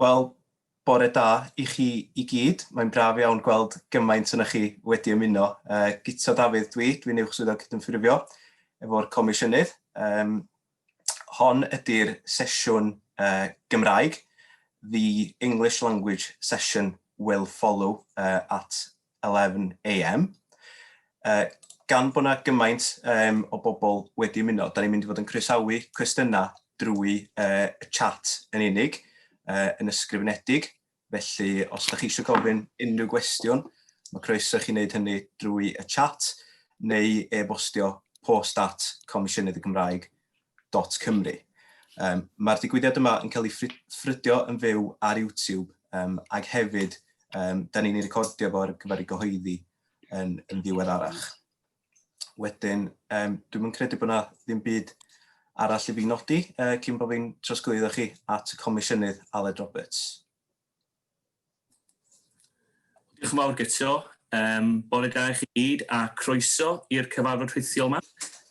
Wel, bore da i chi i gyd. Mae'n braf iawn gweld gymaint yna chi wedi ymuno. Uh, Gito Dafydd dwi, dwi'n uwch swyddog cydymffurfio efo'r comisiynydd. Um, hon ydy'r sesiwn uh, Gymraeg. The English language session will follow uh, at 11am, uh, gan bod yna gymaint um, o bobl wedi ymuno, da ni'n mynd i fod yn croesawu cwestiynau drwy uh, y chat yn unig, uh, yn ysgrifenedig. Felly, os ydych chi eisiau gofyn unrhyw gwestiwn, mae croeso chi wneud hynny drwy y chat neu e-bostio post at Comisiynydd y Gymraeg www.youtube.com.cymru. Um, Mae'r digwyddiad yma yn cael ei ffrydio yn fyw ar YouTube um, ac hefyd um, da ni'n ei recordio fo ar gyfer ei gyhoeddi yn, yn ddiwedd arach. Wedyn, um, dwi'n mynd credu bod yna ddim byd arall i fi nodi uh, cyn bod fi'n trosglwyddo chi at y comisiynydd Aled Roberts. Diolch yn fawr Guto. Um, bore da i chi gyd a croeso i'r cyfarfod rhithiol yma.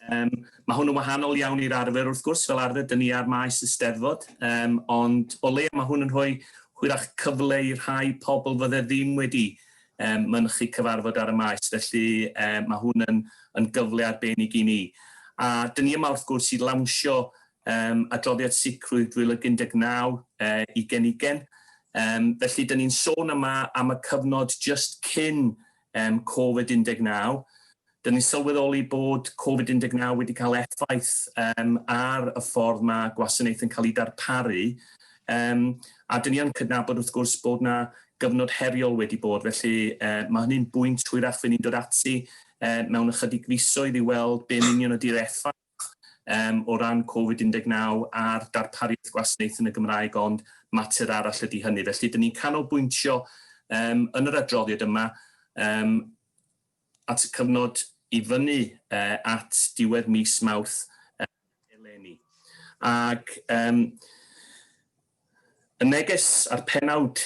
Um, mae hwn yn wahanol iawn i'r arfer wrth gwrs, fel arfer dyn ni ar maes y steddfod, um, ond o leia mae hwn yn rhoi hwyrach cyfle i rhai pobl fydde ddim wedi um, mynychu cyfarfod ar y maes, felly um, mae hwn yn, yn gyfle arbennig i ni. A dyn ni yma wrth gwrs i lawnsio Yym, adroddiad sicrwydd 2019, yy, ugen ugen. Yym, felly, 'da ni'n sôn yma am y cyfnod jyst cyn, yym, Covid 19. 'Da ni'n sylweddoli bod Covid 19 wedi cael effaith, yym, ar y ffordd ma' gwasanaeth yn cael ei darparu. Yym, a 'da ni yn cydnabod, wrth gwrs, bod 'na gyfnod heriol wedi bod, felly, yy, ma' hynny'n bwynt hwyrach fy' ni'n dod ati, yy, mewn ychydig fisoedd i weld be'n union ydi'r effaith yym o ran Covid 19 a'r darpariaeth gwasnaeth yn y Gymraeg ond mater arall ydy hynny. Felly dyn ni'n canolbwyntio yym yn yr adroddiad yma yym at y cyfnod i fyny e, at diwedd mis Mawrth eleni. Ac yym Y neges a'r pennawd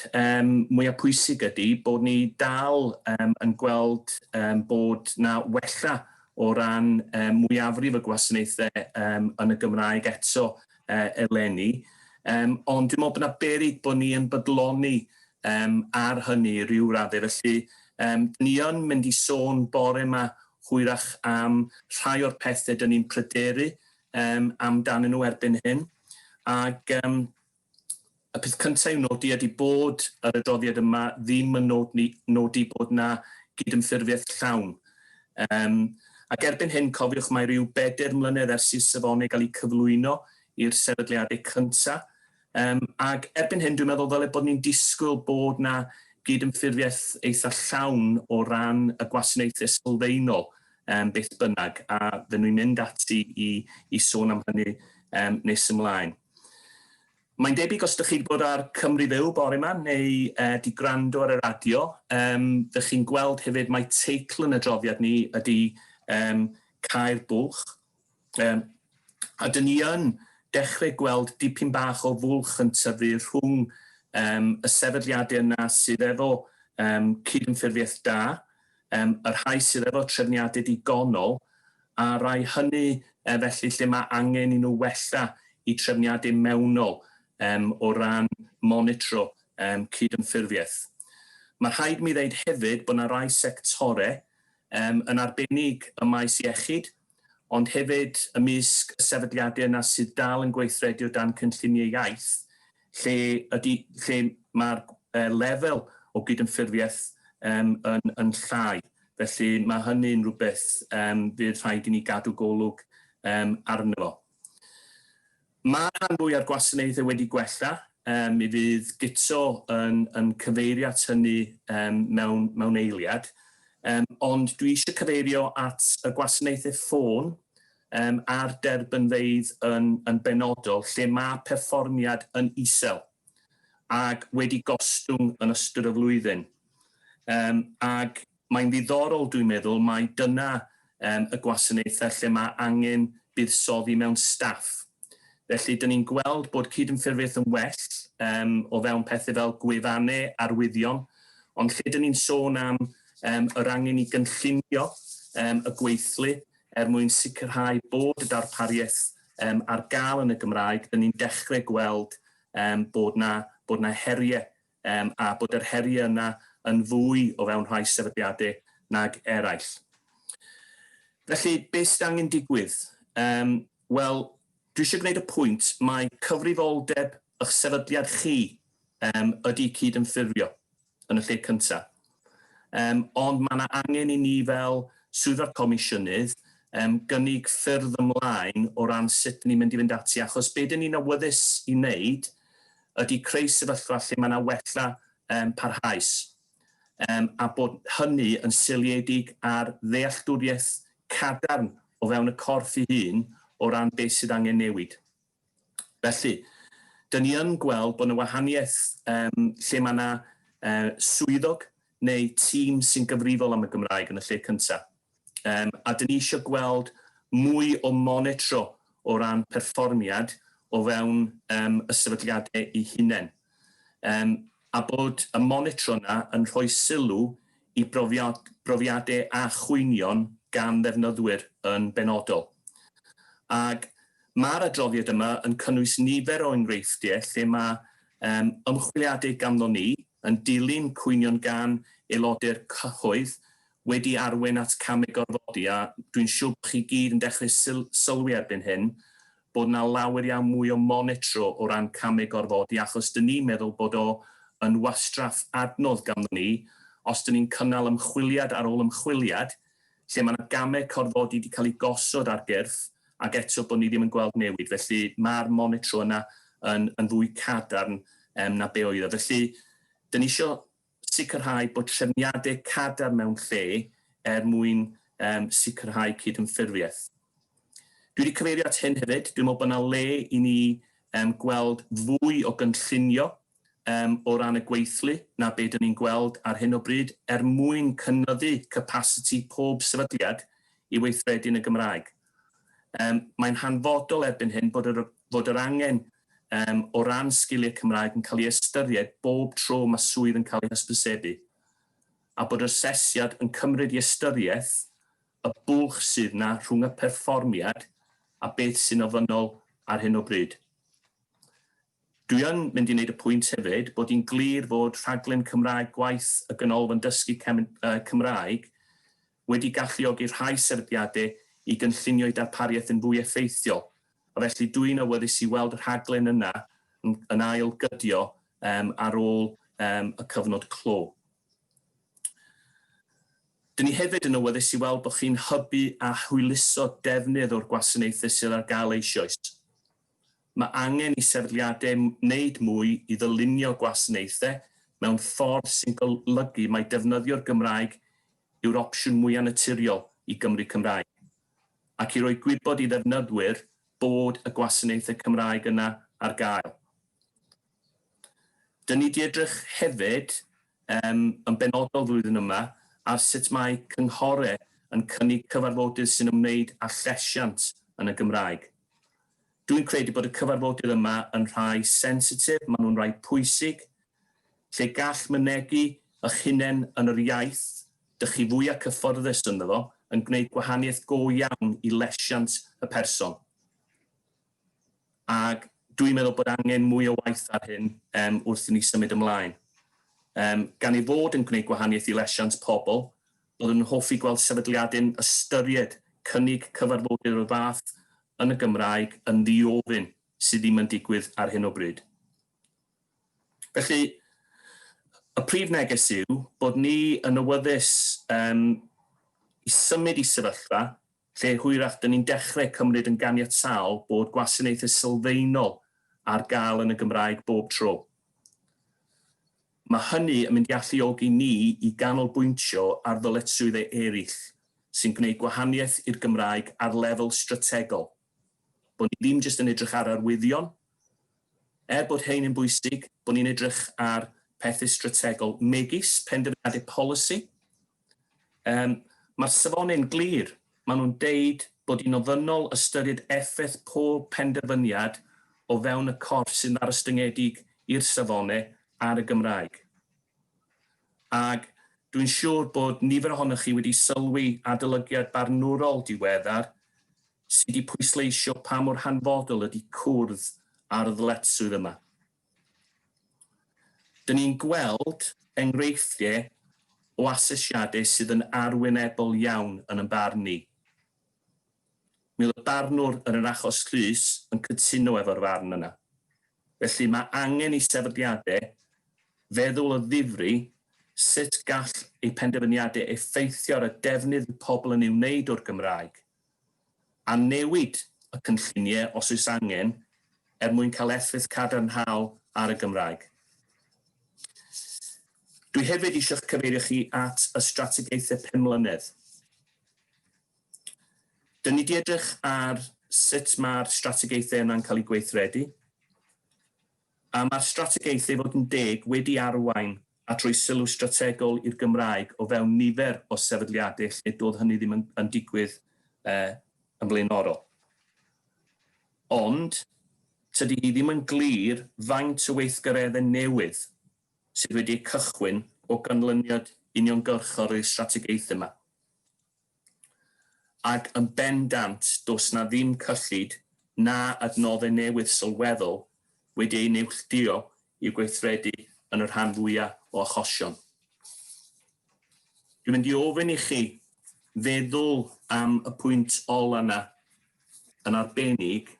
mwya' pwysig ydi bod ni dal yn gweld bod 'na wella o ran mwyafrif y gwasanaethe yn y Gymraeg eto eleni, ond dwi'n me'wl bo' 'na beryg bo' ni yn bydloni ar hynny i ryw radde. Felly 'dyn ni yn mynd i sôn bore 'ma hwyrach am rhai o'r pethe 'dyn ni'n pryderu um, amdanyn nhw erbyn hyn. Ac um, y peth cyntaf i'w nodi ydy bod yr adroddiad yma ddim yn nodi, nodi bod yna gydymffurfiaeth llawn. Um, ac erbyn hyn, cofiwch mae rhyw bedair mlynedd ers i'r safonau gael eu cyflwyno i'r sefydliadau cyntaf, Yym, ac erbyn hyn dwi'n meddwl ddyle bod ni'n disgwyl bod 'na gydymffurfiaeth eitha' llawn o ran y gwasanaethe sylfaenol yym beth bynnag, a fy' ni'n mynd ati i i sôn am hynny yym nes ymlaen. Mae'n debyg os 'dych chi 'di bod ar Cymru Fyw bore 'ma neu yy 'di gwrando ar y radio yym fy' chi'n gweld hefyd mai teitl yn adroddiad ni ydi yym Cau'r Bwlch. Yym, a dyn ni yn dechrau gweld dipyn bach o fwlch yn tyfu rhwng yym, y sefydliadau yna sydd efo yym, cydymffurfiaeth da, yym, y rhai sydd efo trefniadau digonol, a rai hynny e, felly lle mae angen i nhw wella i trefniadau mewnol yym, o ran monitro yym, cydymffurfiaeth. Mae rhaid mi ddeud hefyd bod yna rai sectorau, yym, yn arbennig ym maes iechyd, ond hefyd ymysg y sefydliadau yna sydd dal yn gweithredu o dan cynlluniau iaith, lle ydy, lle mae'r e, lefel o gydymffurfiaeth um, yn, yn llai. Felly mae hynny'n rhywbeth um, fydd rhaid i ni gadw golwg um, arno fo. Mae'r rhan fwya'r gwasanaethau wedi gwella, mi fydd Guto yn cyfeirio at hynny mewn eiliad, ond dwi eisiau cyfeirio at y gwasanaethau ffôn a'r derbynfeydd yn benodol lle mae perfformiad yn isel ac wedi gostwng yn ystod y flwyddyn ac Mae'n ddiddorol, dwi'n meddwl, mai dyna yym y gwasanaethau lle mae angen buddsoddi mewn staff. Felly, dyn ni'n gweld bod cydymffurfiaeth yn well yym o fewn pethau fel gwefannau, arwyddion, ond lle dyn ni'n sôn am yym yr angen i gynllunio yym y gweithlu er mwyn sicrhau bod y darpariaeth yym ar gael yn y Gymraeg, dyn ni'n dechrau gweld yym bod 'na bod 'na heriau um, a bod yr heriau yna yn fwy o fewn rhai sefydliadau nag eraill. Felly, beth sydd angen digwydd? Um, Wel, dwi eisiau gwneud y pwynt, mae cyfrifoldeb eich sefydliad chi um, ydy cyd-ymffurfio yn y lle cyntaf. Yym, ond mae yna angen i ni fel Swyddfa Comisiynydd um, gynnig ffyrdd ymlaen o ran sut dyn ni'n mynd i fynd ati, achos be dyn ni'n awyddus i wneud ydy creu sefyllfa lle mae yna wella um, parhaus, um, a bod hynny yn seiliedig ar ddealltwriaeth cadarn o fewn y corff ei hun o ran beth sydd angen newid. Felly, dyn ni yn gweld bod 'na wahaniaeth yym lle mae 'na yy swyddog neu tîm sy'n gyfrifol am y Gymraeg yn y lle cynta'. Yym a dyn ni isio gweld mwy o monitro o ran perfformiad o fewn yym y sefydliadau eu hunain. Yym a bod y monitro 'na yn rhoi sylw y profiadau a chwynion gan ddefnyddwyr yn benodol. Ac mae'r adroddiad yma yn cynnwys nifer o enghreifftiau lle mae ymchwiliadau ganddo ni yn dilyn cwynion gan aelodau'r cyhoedd wedi arwain at camau gorfodi a dwi'n siwr bod chi gyd yn dechrau sylwi erbyn hyn bod yna lawer iawn mwy o monitro o ran camu gorfodi achos dyn ni'n meddwl bod o yn wastraff adnodd ganddo ni os dyn ni'n cynnal ymchwiliad ar ôl ymchwiliad lle mae yna gamau corfodi wedi cael eu gosod ar gyrff ac eto bod ni ddim yn gweld newid. Felly mae'r monitro yna yn yn fwy cadarn yym na be oedd o. Felly dyn ni isio Sicrhau bod trefniadau cadarn mewn lle er mwyn um, sicrhau cydymffurfiaeth. Dwi wedi cyfeirio at hyn hefyd, dwi'n meddwl bod yna le i ni um, gweld fwy o gynllunio um, o ran y gweithlu na be dyn ni'n gweld ar hyn o bryd er mwyn cynyddu capasiti pob sefydliad i weithredu yn y Gymraeg. Yym, mae'n hanfodol erbyn hyn bod yr fod yr angen yym o ran sgiliau Cymraeg yn cael ei ystyried bob tro mae swydd yn cael ei hysbysebu, a bod yr asesiad yn cymryd i ystyriaeth y bwlch sydd 'na rhwng y perfformiad a beth sy'n ofynnol ar hyn o bryd. Dwi yn mynd i wneud y pwynt hefyd bod hi'n glir fod rhaglen Cymraeg gwaith y Ganolfan Dysgu Cymraeg wedi galluogi rhai sefydliadau i gynllunio'u darpariaeth yn fwy effeithiol, a felly dwi'n awyddus i weld y rhaglen yna yn ail gydio ar ôl y cyfnod clo. Dyn ni hefyd yn awyddus i weld bod chi'n hybu a hwyluso defnydd o'r gwasanaethau sydd ar gael eisioes. Mae angen i sefydliadau wneud mwy i ddylunio gwasanaethau mewn ffordd sy'n golygu mai defnyddio'r Gymraeg yw'r opsiwn mwyaf naturiol i Gymry Cymraeg, ac i roi gwybod i ddefnyddwyr bod y gwasanaethau Cymraeg yna ar gael. Dŷn ni 'di edrych hefyd yn benodol flwyddyn yma ar sut mae cynghorau yn cynnig cyfarfodydd sy'n ymwneud â llesiant yn y Gymraeg. Dwi'n credu bod y cyfarfodydd yma yn rhai sensitif, maen nhw'n rhai pwysig, lle gall mynegi eich hunain yn yr iaith dych chi fwya cyfforddus ynddo fo yn gwneud gwahaniaeth go iawn i lesiant y person. Ac dwi'n meddwl bod angen mwy o waith ar hyn wrth i ni symud ymlaen. Gan ei fod yn gwneud gwahaniaeth i lesiant pobl, Byddwn yn hoffi gweld sefydliadau'n ystyried cynnig cyfarfodydd o'r fath yn y Gymraeg yn ddi-ofyn, sydd ddim yn digwydd ar hyn o bryd. Felly, y prif neges yw bod ni yn awyddus um, i symud i sefyllfa lle hwyrach dyn ni'n dechrau cymryd yn ganiataol bod gwasanaethau sylfaenol ar gael yn y Gymraeg bob tro. Mae hynny yn mynd i alluogi ni i ganolbwyntio ar ddyletswyddau eraill sy'n gwneud gwahaniaeth i'r Gymraeg ar lefel strategol, bod ni ddim jyst yn edrych ar arwyddion, er bod rhein yn bwysig, bod ni'n edrych ar pethau strategol megis penderfyniadau polisi, Yym, mae'r safonau'n glir, maen nhw'n deud bod hi'n ofynnol ystyried effaith pob penderfyniad o fewn y corff sy'n ddarostyngedig i'r safonau ar y Gymraeg. Ac dwi'n siŵr bod nifer ohonoch chi wedi sylwi adolygiad barnwrol diweddar sydd wedi pwysleisio pa mor hanfodol ydy cwrdd â'r ddyletswydd yma. Dyn ni'n gweld enghreifftiau o asesiadau sydd yn arwynebol iawn yn ein barn ni. Mi oedd y barnwr yn yr achos llys yn cytuno efo'r farn yna. Felly, mae angen i sefydliadau feddwl o ddifri sut gall eu penderfyniadau effeithio ar y defnydd y pobl yn ei wneud o'r Gymraeg. a newid y cynlluniau os oes angen er mwyn cael effaith cadarnhaol ar y Gymraeg. Dwi hefyd eisiau'ch cyfeirio chi at y strategaethau pum mlynedd. Dyn ni di edrych ar sut mae'r strategaethau yna'n cael eu gweithredu. A mae'r strategaeth ei fod yn deg wedi arwain at roi sylw strategol i'r Gymraeg o fewn nifer o sefydliadau lle doedd hynny ddim yn yn digwydd yn flaenorol. Ond, tydi hi ddim yn glir faint o weithgareddau newydd sydd wedi eu cychwyn o ganlyniad uniongyrchol i'r strategaeth yma. Ac yn bendant, does 'na ddim cyllid na adnoddau newydd sylweddol wedi eu neilltuo i'w gweithredu yn y rhan fwya' o achosion. Dwi'n mynd i ofyn i chi feddwl am y pwynt ola' 'na yn arbennig,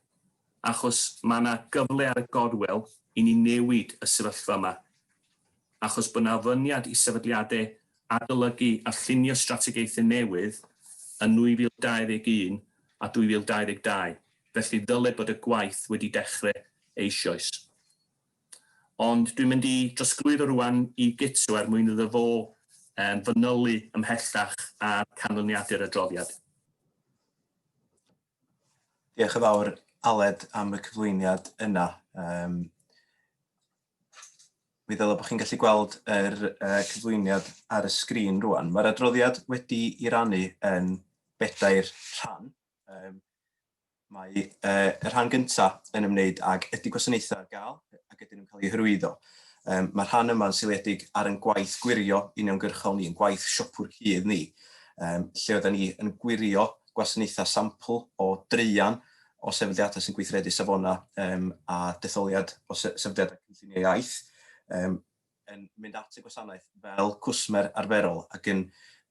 achos ma' 'na gyfle ar y gorwel i ni newid y sefyllfa 'ma. achos bod 'na ofyniad i sefydliadau adolygu a llunio strategaethau newydd yn 2021 a 2022, felly ddyled bod y gwaith wedi dechrau eisioes. Ond dwi'n mynd i drosglwyddo rŵan i Guto er mwyn iddo fo fanylu ymhellach ar canlyniadau'r adroddiad. Diolch yn fawr, Aled, am y cyflwyniad yna. Mi ddylai bod chi'n gallu gweld yr uh, cyflwyniad ar y sgrin rwan. Mae'r adroddiad wedi i rannu yn bedair rhan. Um, mae uh, y rhan gyntaf yn ymwneud ag ydy gwasanaethau ar gael ac ydyn nhw'n cael eu hyrwyddo. Um, mae rhan yma'n seiliedig ar yn gwaith gwirio uniongyrchol ni, yn gwaith siopwr cudd ni, um, lle oedden ni yn gwirio gwasanaethau sampl o dreian o sefydliadau sy'n gweithredu safonau um, a detholiad o sefydliadau cynllunio iaith um, yn mynd at y gwasanaeth fel cwsmer arferol ac yn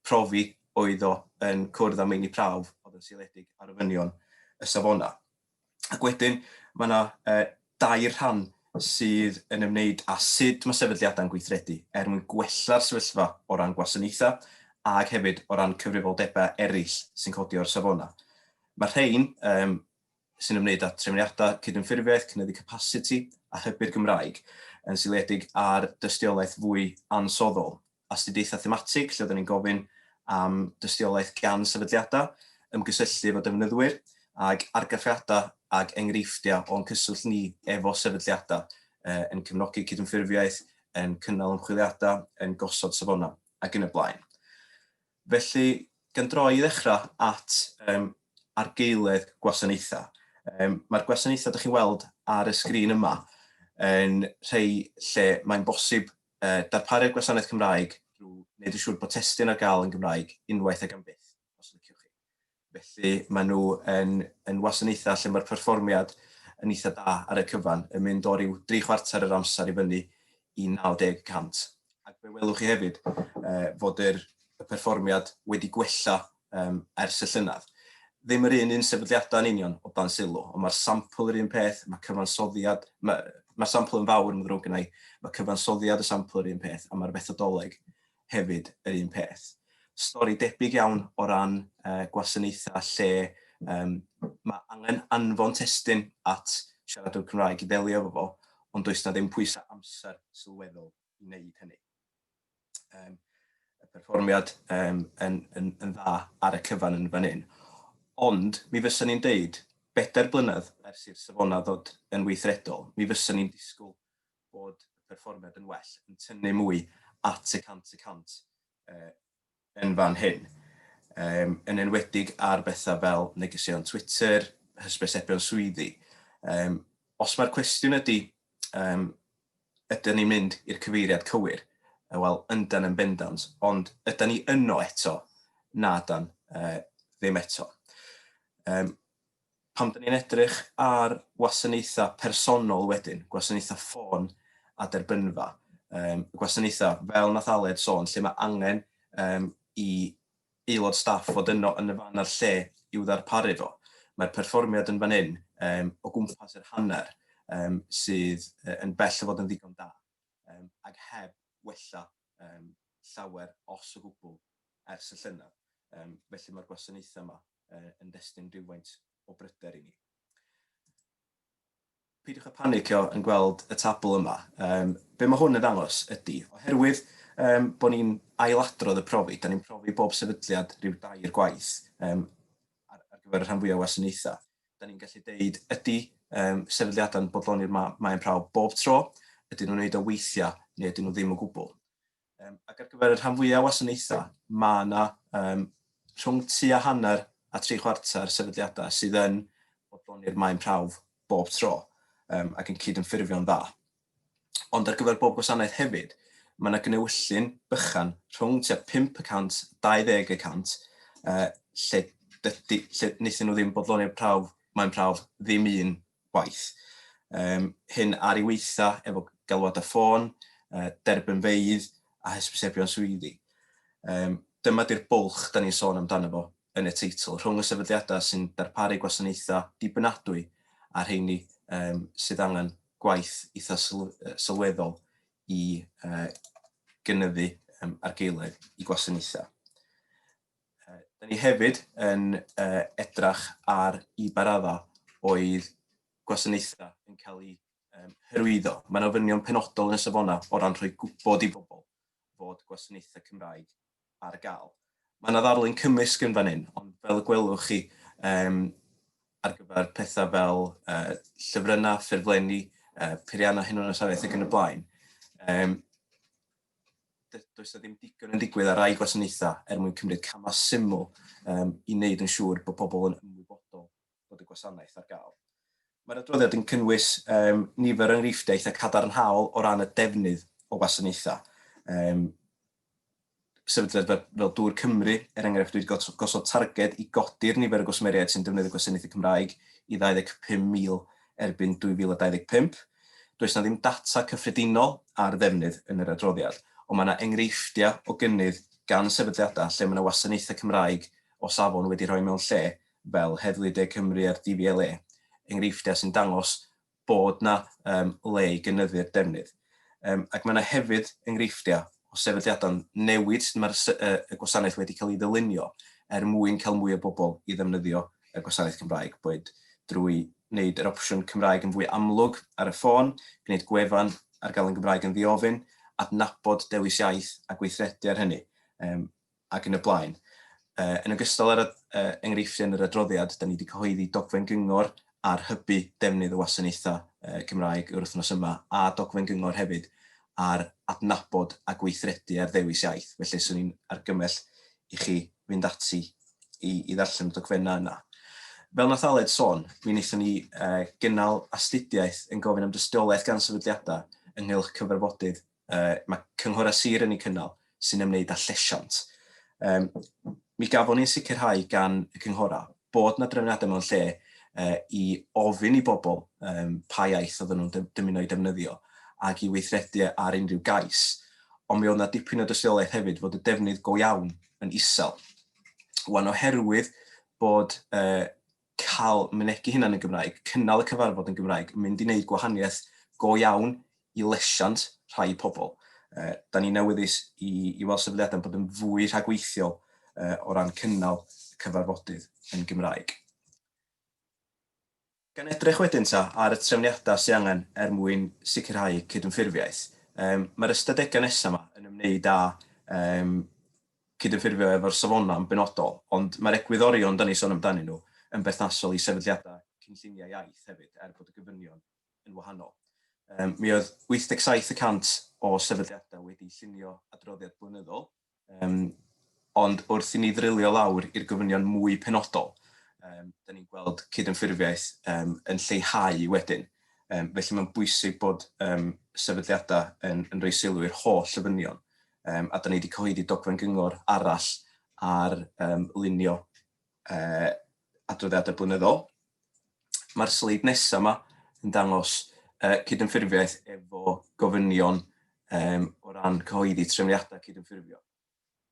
profi oedd o yn cwrdd â meini prawf oedd yn seiliedig ar ofynion y safonau. Ac wedyn, mae yna uh, dair rhan sydd yn ymwneud â sut mae sefydliadau'n gweithredu er mwyn gwella'r sefyllfa o ran gwasanaethau ac hefyd o ran cyfrifoldebau eraill sy'n codi o'r safonau. Mae rhain um, sy'n ymwneud â trefniadau cydymffurfiaeth, cynyddu capasiti a hybu'r Gymraeg, yn seiliedig ar dystiolaeth fwy ansoddol astudiaethau thematig lle oedden ni'n gofyn am dystiolaeth gan sefydliadau, ymgysylltu efo defnyddwyr, ac argraffiadau ac enghreifftiau o'n cyswllt ni efo sefydliadau, yn cefnogi cydymffurfiaeth, yn cynnal ymchwiliadau, yn gosod safonau, ac yn y blaen. Felly, gan droi i ddechrau at um, argaeledd gwasanaethau, um, mae'r gwasanaethau ydych chi'n weld ar y sgrin yma yn rhai lle mae'n bosib darparu'r gwasanaeth Cymraeg drwy wneud yn siŵr bod testun ar gael yn Gymraeg unwaith ac am byth, os liciwch chi. Felly, maen nhw yn, yn wasanaethau lle mae'r perfformiad yn eitha da ar y cyfan, yn mynd o ryw dri chwarter yr amser i fyny i 90 y cant. Ac fe welwch chi hefyd uh, fod yr, y perfformiad wedi gwella um, ers y llynedd. Ddim yr un un sefydliadau yn union o dan sylw, ond mae'r sampl yr un peth, mae cyfansoddiad, mae'r mae sampl yn fawr yn ddrwg yna i, mae cyfansoddiad y sampl yr un peth, a mae'r fethodoleg hefyd yr un peth. Stori debyg iawn o ran uh, gwasanaethau lle um, mae angen anfon testyn at siaradwr Cymraeg i ddelio efo fo, ond does na ddim pwysau amser sylweddol i wneud hynny. Um, y perfformiad um, yn, yn, yn dda ar y cyfan yn fan hyn. Ond mi fysa ni'n deud, bedair blynedd ers i'r safona ddod yn weithredol, mi fysa ni'n disgwyl bod y perfformiad yn well, yn tynnu mwy at y cant y cant uh, yn fan hyn, um, yn enwedig ar bethau fel negeseuon Twitter, hysbysebion swyddi. Um, os mae'r cwestiwn ydy, um, ydyn ni'n mynd i'r cyfeiriad cywir, e, wel, yndan yn bendant, ond ydyn ni yno eto, na dan, uh, ddim eto. Um, Pan dan ni'n edrych ar wasanaethau personol wedyn, gwasanaethau ffôn a derbynfa, um, gwasanaethau fel nath Aled sôn, lle mae angen um, i aelod staff fod yno yn y fan a'r lle i'w ddarparu fo. Mae'r perfformiad yn fan hyn um, o gwmpas yr hanner um, sydd uh, yn bell o fod yn ddigon da, um, ac heb wella um, llawer os o gwbl ers y llynedd. Um, felly mae'r gwasanaethau yma yn destun rhywfaint o bryder i ni. Peidiwch â phanicio yn gweld y tabl yma. Be mae hwn yn ddangos ydy, oherwydd bod ni'n ailadrodd y profi, da ni'n profi bob sefydliad rhyw dair gwaith ar gyfer y rhan fwyaf o wasanaethau. Da ni'n gallu deud ydy sefydliadau'n bodloni'r maen prawf bob tro, ydyn nhw'n wneud o weithiau neu ydyn nhw ddim o gwbl. Um, ac ar gyfer y rhan fwyaf o wasanaethau, mae yna um, rhwng tu a hanner a tri chwarter sefydliadau sydd yn bodloni'r maen prawf bob tro um, ac yn cydymffurfio'n dda. Ond ar gyfer bob gwasanaeth hefyd, mae yna gnewyllyn bychan rhwng tua 5 y 100, 20 y 100, uh, lle, dydy, lle wnaethon nhw ddim bodloni'r prawf, mae'n prawf ddim un gwaith. Um, hyn ar ei weitha efo galwadau ffôn, uh, derbynfeydd a hysbysebion swyddi. Um, dyma di'r bwlch da ni'n sôn amdano fo yn y teitl, rhwng y sefydliadau sy'n darparu gwasanaethau dibynadwy a rheini um, sydd angen gwaith eitha sylweddol i uh, gynyddu um, argaeledd i gwasanaethau. Da ni hefyd yn uh, edrach ar i baradda oedd gwasanaethau yn cael eu um, hyrwyddo. Mae'n ofynion penodol yn y safonau o ran rhoi gwybod i bobl fod gwasanaethau Cymraeg ar gael. Mae yna ddarlun cymysg yn fan hyn, ond fel y gwelwch chi, um, ar gyfer pethau fel uh, llyfrynnau, ffurflenni, uh, peiriannau hunanasariaeth ac yn y blaen. Um, does na ddim digon yn digwydd ar rai gwasanaethau er mwyn cymryd camau syml um, i wneud yn siŵr bod pobl yn ymwybodol bod y gwasanaeth ar gael. Mae'r adroddiad yn cynnwys um, nifer o enghreifftiau eitha cadarnhaol o ran y defnydd o wasanaethau. Um, sefydliad fel, fel Dŵr Cymru, er enghraifft, wedi gosod targed i godi'r nifer o gwsmeriaid sy'n defnyddio gwasanaethau Cymraeg i 25,000 erbyn 2025. Does 'na ddim data cyffredinol ar ddefnydd yn yr adroddiad, ond mae 'na enghreifftiau o gynnydd gan sefydliadau lle mae 'na wasanaethau Cymraeg o safon wedi rhoi mewn lle, fel Heddlu De Cymru a'r DVLA, enghreifftiau sy'n dangos bod 'na le i gynyddu'r defnydd. Yym, ac mae yna hefyd enghreifftiau o sefydliadau'n newid sut mae'r y gwasanaeth wedi cael ei ddylunio er mwyn cael mwy o bobl i ddefnyddio y gwasanaeth Cymraeg, boed drwy wneud yr opsiwn Cymraeg yn fwy amlwg ar y ffôn, gwneud gwefan ar gael yn Gymraeg yn ddiofyn, adnabod dewis iaith a gweithredu ar hynny. Yym. ac yn y blaen. Yn ogystal â'r enghreifftiau yn yr adroddiad, da ni wedi cyhoeddi dogfen gyngor ar hybu defnydd y wasanaethau Cymraeg yr wythnos yma, a dogfen gyngor hefyd ar adnabod a gweithredu ar ddewis iaith. Felly, swn i'n argymell i chi fynd ati i, i ddarllen y dogfennau yna. Fel nath Aled sôn, mi wnaethon ni gynnal astudiaeth yn gofyn am dystiolaeth gan sefydliadau ynghylch cyfarfodydd yy mae cynghorau sir yn eu cynnal sy'n ymwneud â llesiant. Um, mi gafon ni'n sicrhau gan y cynghorau bod na drefniadau mewn lle uh, i ofyn i bobl um, pa iaith oedden nhw'n dymuno i defnyddio ac i weithredu ar unrhyw gais. Ond mi oedd yna dipyn o dystiolaeth hefyd fod y defnydd go iawn yn isel. Wan oherwydd bod uh, cael mynegi hunan yn Gymraeg, cynnal y cyfarfod yn Gymraeg, mynd i wneud gwahaniaeth go iawn i lesiant rhai pobl. Yy, 'da ni'n awyddus i i weld sefydliadau'n bod yn fwy rhagweithiol yy o ran cynnal y cyfarfodydd yn Gymraeg. Gan edrych wedyn ta ar y trefniadau sydd angen er mwyn sicrhau cydymffurfiaeth, yym, mae'r ystadegau nesaf yma yn ymwneud â yym cydymffurfio efo'r safonau yn benodol, ond mae'r egwyddorion dan ni'n sôn amdanyn nhw yn berthnasol i sefydliadau cynlluniau iaith hefyd, er bod y gofynion yn wahanol. Yym, mi oedd 87 y cant o sefydliadau wedi llunio adroddiad blynyddol, yym, ond wrth i ni ddrilio lawr i'r gofynion mwy penodol, um, da ni'n gweld cydymffurfiaeth um, yn lleihau wedyn. Um, felly mae'n bwysig bod um, sefydliadau yn, yn rhoi sylw i'r holl ofynion um, a da ni wedi cyhoeddi dogfen gyngor arall ar um, lunio uh, adroddiadau blynyddol. Mae'r sleid nesaf yma yn dangos uh, cydymffurfiaeth efo gofynion um, o ran cyhoeddi trefniadau cydymffurfio.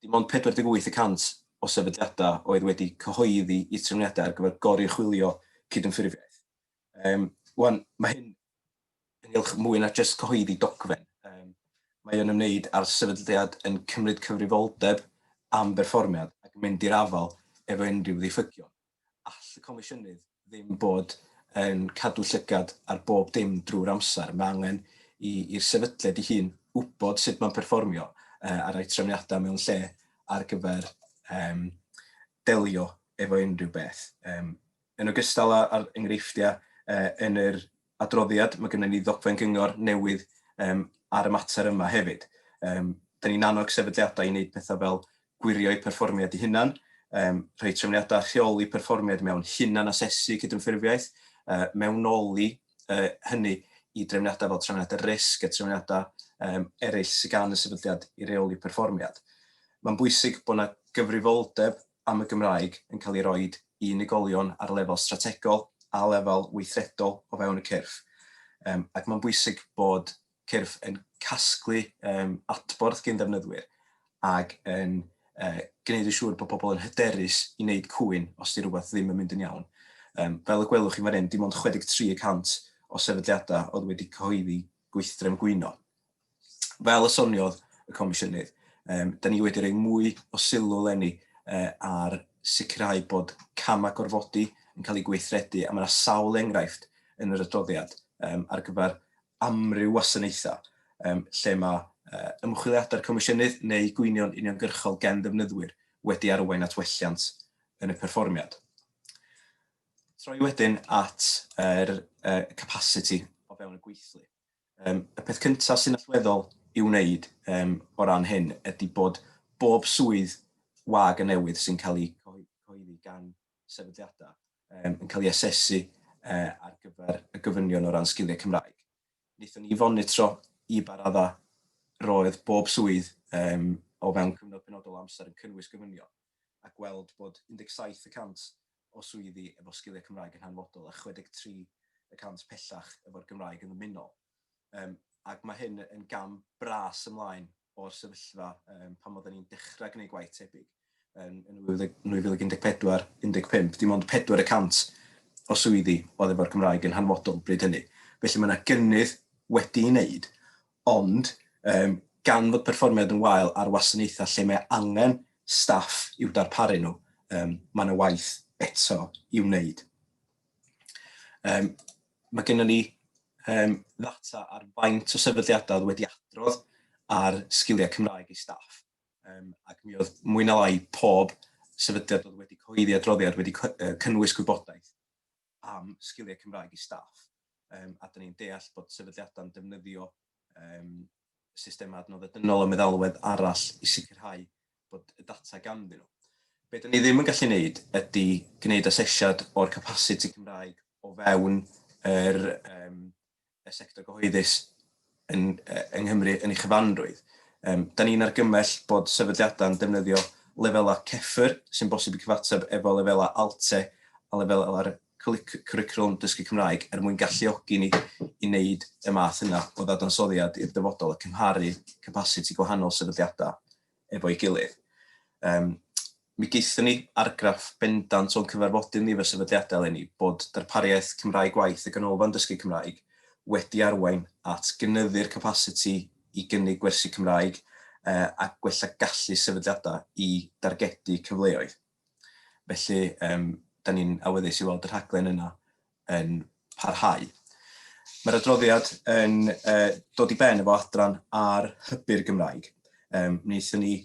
Dim ond 48 y cant o sefydliadau oedd wedi cyhoeddi i'r trefniadau ar gyfer goruchwylio cydymffurfiaeth. Um, Wan, mae hyn ynghylch mwy na jyst cyhoeddi dogfen. Um, mae o'n ymwneud â'r sefydliad yn cymryd cyfrifoldeb am berfformiad ac mynd i'r afael efo unrhyw ddiffygion. All y Comisiynydd ddim bod yn cadw llygad ar bob dim drwy'r amser. Mae angen i'r sefydliad ei hun wybod sut mae'n perfformio uh, a rhoi trefniadau mewn lle ar gyfer um, delio efo unrhyw beth. Um, Yn ogystal â'r enghreifftiau yn yr adroddiad, mae gennym ni ddogfen gyngor newydd ar y mater yma hefyd. Dan ni'n annog sefydliadau i wneud pethau fel gwirio eu perfformiad eu hunain, rhoi trefniadau rheoli perfformiad mewn hunan-asesu cydymffurfiaeth, mewnoli hynny i drefniadau fel trefniadau risg a trefniadau eraill sydd gan y sefydliad i reoli perfformiad. Mae'n bwysig bod yna gyfrifoldeb am y Gymraeg yn cael ei roi i unigolion ar lefel strategol a lefel weithredol o fewn y cyrff, um, ac mae'n bwysig bod cyrff yn casglu um, adborth gyn ddefnyddwyr ac yn uh, gwneud yn siŵr bod pobl yn hyderus i wneud cwyn os di rhywbeth ddim yn mynd yn iawn. Um, fel y gwelwch chi fan hyn, dim ond 63 y cant o sefydliadau oedd wedi cyhoeddi gweithdrefn gwyno fel y soniodd y Comisiynydd, um, da ni wedi rhoi mwy o sylw lenni uh, ar sicrhau bod camau gorfodi yn cael eu gweithredu, a mae yna sawl enghraifft yn yr adroddiad um, ar gyfer amryw wasanaethau um, lle mae uh, ymchwiliadau'r Comisiynydd neu gwynion uniongyrchol gen ddefnyddwyr wedi arwain at welliant yn y perfformiad. Troi wedyn at yr er, uh, capacity o fewn y gweithlu. Yym, y peth cynta sy'n allweddol i'w wneud yym o ran hyn ydi bod bob swydd wag a newydd sy'n cael ei cyhoeddi gan sefydliada yym yn cael ei asesu yy ar gyfer y gofynion o ran sgiliau Cymraeg. Wnaethon ni fonitro i ba radda roedd bob swydd yym o fewn cyfnod penodol o amser yn cynnwys gofynion a gweld bod 17 y cant o swyddi efo sgiliau Cymraeg yn hanfodol a 63 y cant pellach efo'r Gymraeg yn ddymunol. Yym, ac mae hyn yn gam bras ymlaen o'r sefyllfa yym, pan oedden ni'n dechrau gwneud gwaith tebyg yn, yn 2014, 15, dim ond pedwar y cant o swyddi oedd efo'r Gymraeg yn hanfodol bryd hynny. Felly mae yna gynnydd wedi'i wneud, Ond, yym, gan fod perfformiad yn wael ar wasanaethau lle mae angen staff i'w darparu nhw, yym, mae yna waith eto i'w wneud. Yym, mae gennym ni um, ddata ar faint o sefydliadau oedd wedi adrodd ar sgiliau Cymraeg i staff. Um, ac mi oedd mwy na lai pob sefydliad oedd wedi cyhoeddi adroddiad wedi cynnwys gwybodaeth am sgiliau Cymraeg i staff, yym, a 'dan ni'n deall bod sefydliadau'n defnyddio, yym, systemau adnoddau dynol a meddalwedd arall i sicrhau bod y data ganddyn nhw. Be 'dan ni ddim yn gallu wneud ydy gwneud asesiad o'r capasiti Cymraeg o fewn yr, yym, y sector gyhoeddus yn, yng Nghymru yn ei chyfanrwydd. Um, da ni'n argymell bod sefydliadau'n defnyddio lefelau CEFR sy'n bosib i cyfateb efo lefelau ALTE a lefelau'r cwricwlwm dysgu Cymraeg er mwyn galluogi ni i wneud y math yna o ddadansoddiad i'r dyfodol a cymharu capasiti gwahanol sefydliadau efo'i gilydd. Um, mi geithon ni argraff bendant o'n cyfarfodydd ni fe sefydliadau eleni bod darpariaeth Cymraeg Gwaith y Ganolfan Dysgu Cymraeg wedi arwain at gynyddu'r capasiti i gynnig gwersi Cymraeg uh, a gwella gallu sefydliadau i dargedu cyfleoedd. Felly, um, da ni'n awyddus i weld y rhaglen yna yn parhau. Mae'r adroddiad yn uh, dod i ben efo adran ar hybu'r Gymraeg. Um, wnaethon ni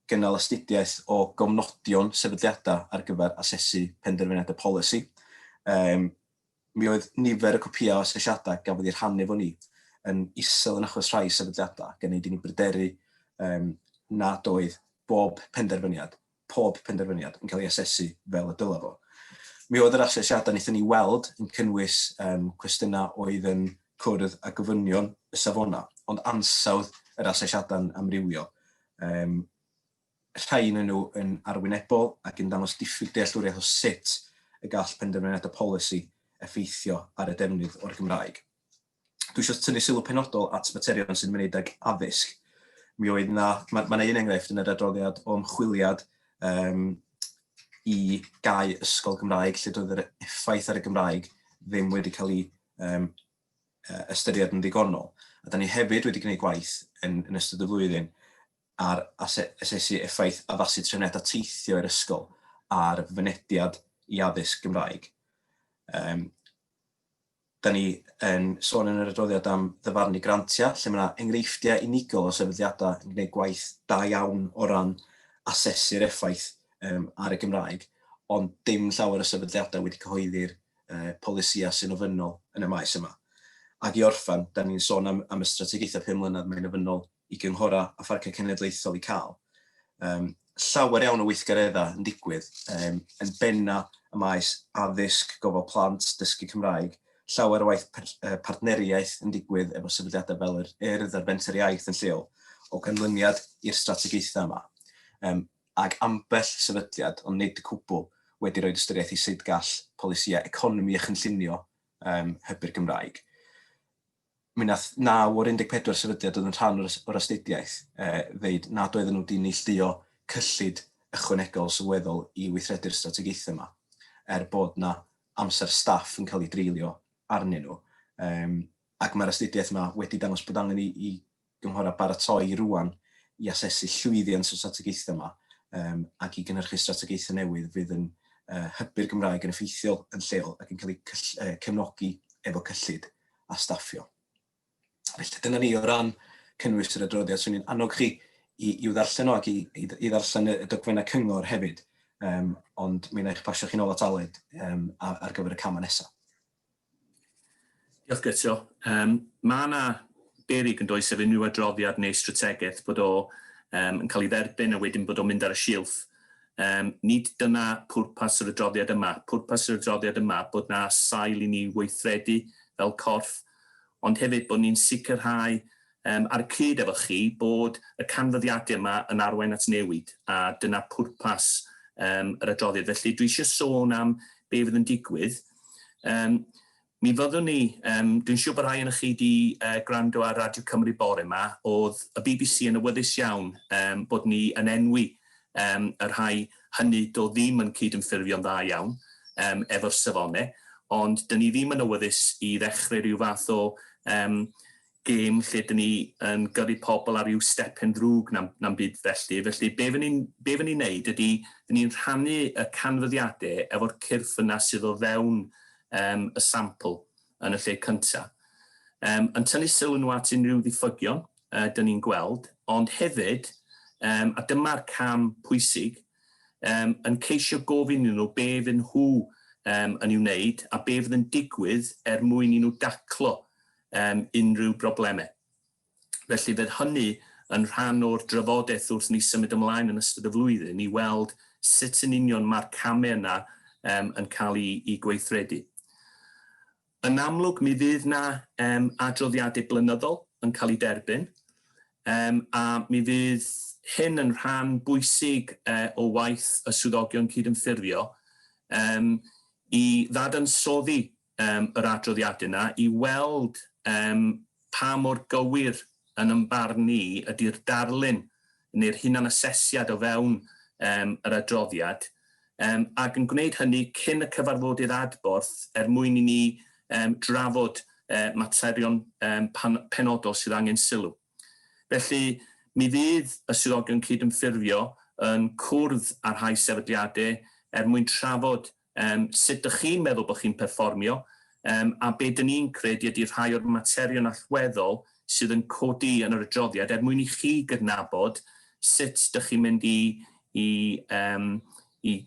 gynnal astudiaeth o gofnodion sefydliadau ar gyfer asesu penderfyniadau polisi. Um, mi oedd nifer y cwpiau o asesiadau gafodd ei rhannu fo ni yn isel yn achos rhai sefydliadau, gan ei dyn ni bryderu um, nad oedd bob penderfyniad pob penderfyniad yn cael ei asesu fel y dylai fo. Mi oedd yr asesiadau wnaethon ni weld yn cynnwys um, cwestiynau oedd yn cwrdd â gofynion y safonau, ond ansawdd yr asesiadau'n amrywio. Um, rhai yn nhw yn arwynebol ac yn dangos diffyg dealltwriaeth o sut y gall penderfyniadau polisi effeithio ar y defnydd o'r Gymraeg. dwi eisiau tynnu sylw penodol at materion sy'n ymwneud ag addysg. Mi oedd na, mae yna un enghraifft yn yr adroddiad o ymchwiliad um, i gau ysgol Gymraeg lle doedd yr effaith ar y Gymraeg ddim wedi cael ei um, ystyried yn ddigonol. A da ni hefyd wedi gwneud gwaith yn, yn ystod y flwyddyn ar asesu effaith addasu trefniadau teithio i'r ysgol a'r fynediad i addysg Gymraeg. Um, Dan ni yn sôn yn yr adroddiad am ddyfarnu grantiau, lle mae yna enghreifftiau unigol o sefydliadau yn gwneud gwaith da iawn o ran asesu'r effaith yym ar y Gymraeg, ond dim llawer o sefydliadau wedi cyhoeddi'r yy polisïau sy'n ofynnol yn y maes yma. Ac i orffen, dan ni'n sôn am am y strategaethau pum mlynedd, mae'n ofynnol i gynghorau a pharciau cenedlaethol i cael um, llawer iawn o weithgareddau yn digwydd, um, yn benna y maes addysg, gofal plant, dysgu Cymraeg, llawer o waith partneriaeth yn digwydd efo sefydliadau fel yr ERD a'r Fenter Iaith yn lleol o ganlyniad i'r strategaethau yma. Um, ac ambell sefydliad, ond nid y cwbl, wedi rhoi ystyriaeth i sut gall polisïau economi a chynllunio um, hybu'r Gymraeg. Mi wnaeth naw o'r 14 sefydliad oedd yn rhan o'r astudiaeth ddeud nad oedden nhw wedi neillduo cyllid ychwanegol sylweddol i weithredu'r strategaethau yma, er bod yna amser staff yn cael ei dreulio arnyn nhw. Ac mae'r astudiaeth yma wedi dangos bod angen i gynghorau a baratoi rŵan i asesu llwyddiant y strategaethau yma yym ac i gynhyrchu strategaethau newydd fydd yn yy hybu'r Gymraeg yn effeithiol yn lleol ac yn cael eu cyll- yy cefnogi efo cyllid a staffio. Felly dyna ni o ran cynnwys yr adroddiad. Swn i'n annog chi i i'w ddarllen o ac i i i ddarllen y y dogfennau cyngor hefyd yym ond mi wna i eich pasio chi nôl at Aled yym a- ar gyfer y camau nesa'. Diolch Guto. Yym ma' 'na berig yndoes sef unrhyw adroddiad neu strategaeth bod o yym yn cael ei dderbyn a wedyn bod o'n mynd ar y silff. Yym nid dyna pwrpas yr adroddiad yma. Pwrpas yr adroddiad yma bod 'na sail i ni weithredu fel corff ond hefyd bod ni'n sicrhau Yym, ar y cyd efo chi, bod y canfyddiadau yma yn arwain at newid, a dyna pwrpas yym yr adroddiad. Felly, dwi eisiau sôn am be fydd yn digwydd. Yym, mi fyddwn ni, yym, dwi'n siŵr bod rhai ohonoch chi wedi uh, gwrando ar Radio Cymru bore yma, oedd y bbc yn awyddus iawn um, bod ni yn enwi um, y rhai hynny do ddim yn cydymffurfio'n dda iawn um, efo'r safonau, ond dyn ni ddim yn awyddus i ddechrau rhyw fath o um, gêm lle dyn ni yn gyrru pobl ar ryw stephen ddrwg na'm na'm byd felly, felly be fy ni'n be fy ni'n neud ydi fy ni'n rhannu y canfyddiade efo'r cyrff yna sydd o fewn yym y sampl yn y lle cynta. Yym yn tynnu sylw nhw at unrhyw ddiffygion yy dyn ni'n gweld, ond hefyd yym a dyma'r cam pwysig yym yn ceisio gofyn iddyn nhw be fy nhw yym yn i'w wneud a be fydd yn digwydd er mwyn i nhw daclo um, unrhyw broblemau. Felly fydd hynny yn rhan o'r drafodaeth wrth ni symud ymlaen yn ystod y flwyddyn i weld sut yn union mae'r camau yna um, yn cael ei, ei gweithredu. Yn amlwg, mi fydd na um, adroddiadau blynyddol yn cael ei derbyn, um, a mi fydd hyn yn rhan bwysig uh, o waith y swyddogion cydymffurfio um, i ddadansoddi yym yr adroddiadau 'na i weld yym pa mor gywir yn yn barn ni ydi'r darlun neu'r hunanasesiad o fewn yym yr adroddiad yym ac yn gwneud hynny cyn y cyfarfodydd adborth er mwyn i ni yym drafod yy materion yym pan- penodol sydd angen sylw. Felly mi fydd y Swyddogion Cydymffurfio yn cwrdd â rhai sefydliadau er mwyn trafod Yym, sut dych chi'n meddwl bod chi'n perfformio? Yym, a be dyn ni'n credu ydy rhai o'r materion allweddol sydd yn codi yn yr adroddiad er mwyn i chi gydnabod sut dych chi'n mynd i i yym i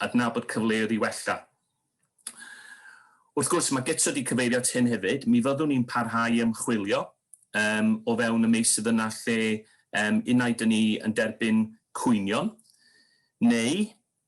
adnabod cyfleoedd i wella. Wrth gwrs, mae Guto wedi cyfeirio at hyn hefyd, mi fyddwn ni'n parhau i ymchwilio yym o fewn y meysydd yna lle yym unai dyn ni yn derbyn cwynion neu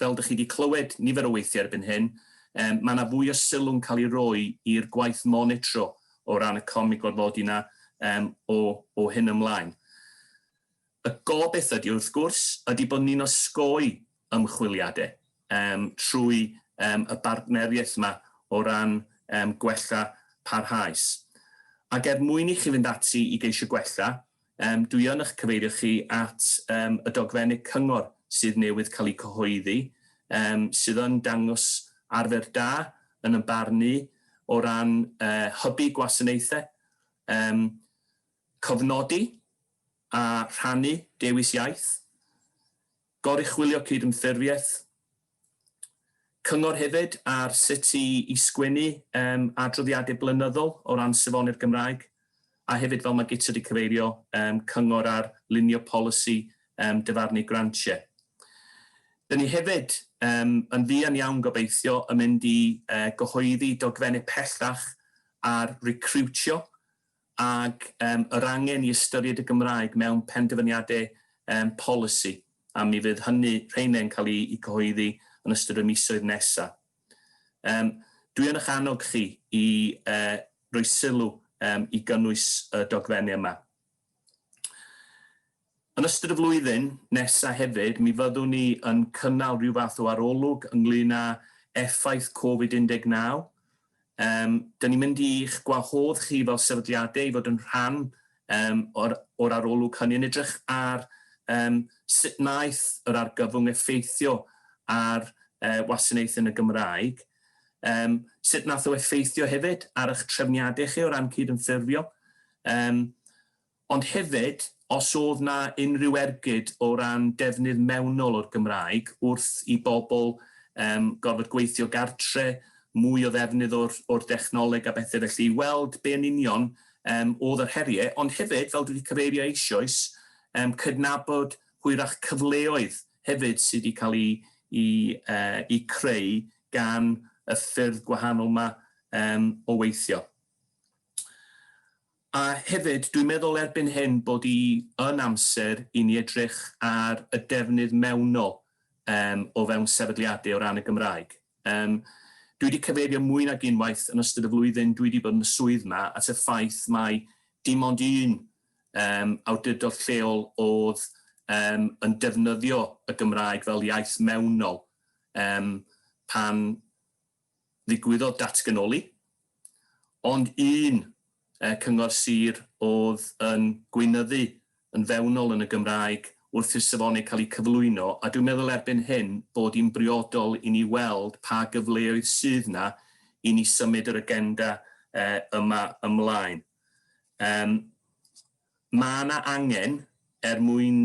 fel dych chi wedi clywed nifer o weithiau erbyn hyn, yym mae yna fwy o sylw'n cael ei roi i'r gwaith monitro o ran y comi gorfodi yna yym o o hyn ymlaen. Y gobaith ydy wrth gwrs ydy bod ni'n osgoi ymchwiliadau yym trwy yym y bartneriaeth yma o ran yym gwella parhaus. Ac er mwyn i chi fynd ati i geisio gwella, Yym, dwi yn ych cyfeirio chi at yym y dogfennu cyngor sydd newydd cael eu cyhoeddi, yym, sydd yn dangos arfer da, yn yn barn i, o ran yy hybu gwasanaethau, yym, cofnodi a rhannu dewis iaith, Goruchwylio cydymffurfiaeth Cyngor hefyd ar sut i i sgwennu yym adroddiadau blynyddol o ran safoni'r Gymraeg, a hefyd fel mae Gitta wedi cyfeirio yym cyngor ar lunio polisi yym dyfarnu grantiau. Dyn ni hefyd yym yn fuan iawn gobeithio yn mynd i yy gyhoeddi dogfennau pellach ar recriwtio ac yym yr angen i ystyried y Gymraeg mewn penderfyniadau yym polisi, a mi fydd hynny, rheine yn cael eu cyhoeddi yn ystod y misoedd nesaf. Yym, dwi yn eich annog chi i yy roi sylw yym i gynnwys y dogfennau yma. Yn ystod y flwyddyn nesa hefyd, mi fyddwn ni yn cynnal rhyw fath o arolwg ynglŷn â effaith Covid 19. Yym, 'dyn ni'n mynd i'ch gwahodd chi fel sefydliade i fod yn rhan yym o'r o'r arolwg hynny, yn edrych ar yym sut wnaeth yr argyfwng effeithio ar yy wasanaeth yn y Gymraeg, yym sut wnaeth o effeithio hefyd ar y'ch trefniade chi o ran cydymffurfio, yym Ond hefyd, os oedd 'na unrhyw ergyd o ran defnydd mewnol o'r Gymraeg wrth i bobl yym gorfod gweithio gartre, mwy o ddefnydd o'r o'r dechnoleg a bethe felly i weld be yn union yym oedd yr herie, ond hefyd, fel dwi 'di cyfeirio eisioes, yym cydnabod hwyrach cyfleoedd hefyd sy' 'di cael 'u 'u yy 'u creu gan y ffyrdd gwahanol 'ma yym o weithio. A hefyd, dwi'n meddwl erbyn hyn bod hi yn amser i ni edrych ar y defnydd mewnol yym o fewn sefydliadau o ran y Gymraeg. Yym dwi wedi cyfeirio mwy nag unwaith yn ystod y flwyddyn dwi wedi bod yn y swydd 'ma at y ffaith mai dim ond un yym awdurdod lleol o'dd yym yn defnyddio y Gymraeg fel iaith mewnol yym pan ddigwyddodd datganoli, ond un cyngor sir oedd yn gweinyddu yn fewnol yn y Gymraeg wrth i'r safonau cael eu cyflwyno, a dwi'n meddwl erbyn hyn bod hi'n briodol i ni weld pa gyfleoedd sydd 'na i ni symud yr agenda yma ymlaen. Yym. Mae yna angen, er mwyn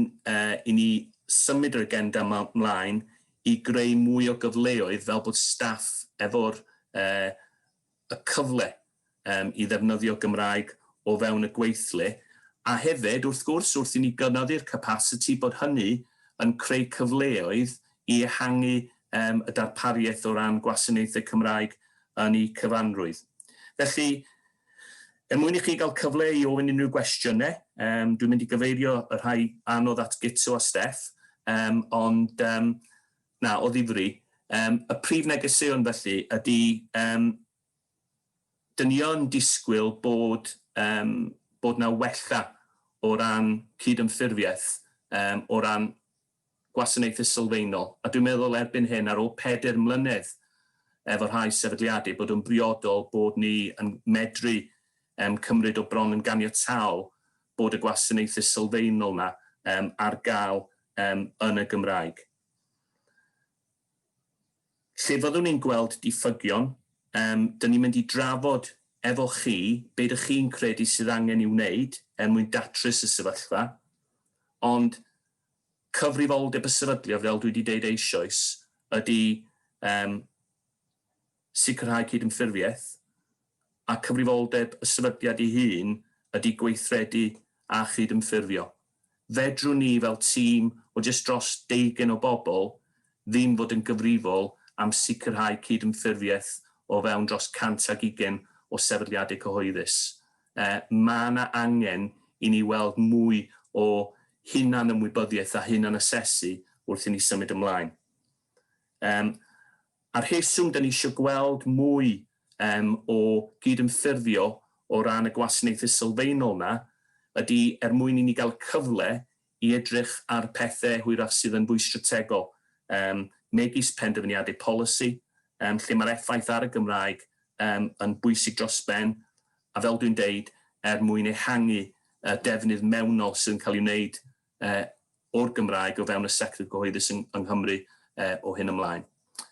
i ni symud yr agenda yma 'mlaen, i greu mwy o gyfleoedd fel bod staff efo'r y cyfle i ddefnyddio Gymraeg o fewn y gweithle, a hefyd, wrth gwrs, wrth i ni gynyddu'r capasiti, bod hynny yn creu cyfleoedd i ehangu y darpariaeth o ran gwasanaethau Cymraeg yn eu cyfanrwydd. Felly, Er mwyn i chi gael cyfle i ofyn unrhyw gwestiynau, um, dwi'n mynd i gyfeirio y rhai anodd at Gitsu a Steff, um, ond um, na, o ddifri. Um, y prif negeseuon felly ydy, um, dyn ni yn disgwyl bod, um, bod na wella o ran cydymffurfiaeth, um, o ran gwasanaethau sylfaenol, a dwi'n meddwl erbyn hyn, ar ôl pedair mlynedd efo rhai sefydliadau, bod o'n briodol bod ni yn medru yym cymryd o bron yn ganiataol bod y gwasanaethau sylfaenol 'na yym ar gael yym yn y Gymraeg. Lle fyddwn ni'n gweld diffygion, yym 'dyn ni'n mynd i drafod efo chi be' ydych chi'n credu sydd angen i'w wneud er mwyn datrys y sefyllfa, ond cyfrifoldeb y sefydliad, fel dwi wedi deud eisoes, ydy um, sicrhau cydymffurfiaeth, a cyfrifoldeb y sefydliad ei hun ydy gweithredu a chydymffurfio. Fedrwn ni fel tîm o jyst dros deugen o bobl ddim fod yn gyfrifol am sicrhau cydymffurfiaeth o fewn dros 120 o sefydliadau cyhoeddus. mae yna angen i ni weld mwy o hunan-ymwybyddiaeth a hunan-asesu wrth i ni symud ymlaen. Yym, a'r rheswm dan ni eisiau gweld mwy yym o gydymffurfio o ran y gwasanaethau sylfaenol yna ydy er mwyn i ni gael y cyfle i edrych ar pethau hwyrach sydd yn fwy strategol, yym, megis penderfyniadau polisi, yym, lle mae'r effaith ar y Gymraeg, yym, yn bwysig dros ben, a fel dwi'n deud, er mwyn ehangu y defnydd mewnol sydd yn cael ei wneud yy o'r Gymraeg o fewn y sector cyhoeddus yng yng Nghymru yy o hyn ymlaen.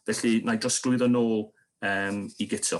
Felly, na i drosglwyddo nôl yym i Guto.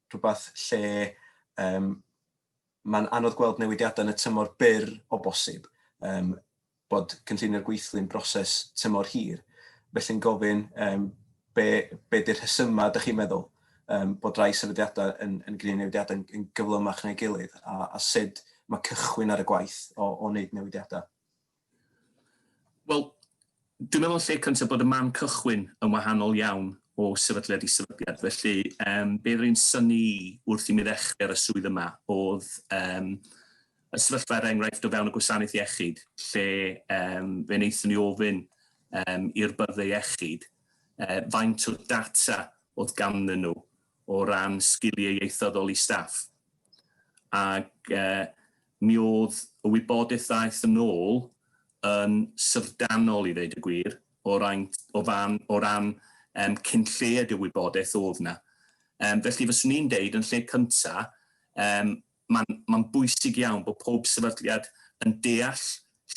rhywbeth lle um, mae'n anodd gweld newidiadau yn y tymor byr o bosib, um, bod cynllunio'r gweithlu'n broses tymor hir. Felly'n gofyn um, be, be di'r rhesymau, ydych chi'n meddwl, um, bod rai sefydliadau yn, yn gwneud newidiadau yn, yn gyflymach neu gilydd, a, a sut mae cychwyn ar y gwaith o, o wneud newidiadau. Wel, dwi'n meddwl yn lle cyntaf bod y man cychwyn yn wahanol iawn o sefydliad i sefydliad, felly yym be oedd yn synnu i wrth i mi ddechrau ar y swydd yma oedd yym y sefyllfa er enghraifft o fewn y gwasanaeth iechyd lle yym fe wnaethon ni ofyn yym i'r byrddau iechyd yy faint o data oedd ganddyn nhw o ran sgiliau ieithyddol i staff ac yy Mi oedd y wybodaeth ddaeth yn ôl yn syfrdanol i ddeud y gwir o raint, o fan, o ran yym cyn lleied y wybodaeth oedd 'na. Yym felly fyswn i'n deud yn lle cynta yym ma'n ma'n bwysig iawn bod pob sefydliad yn deall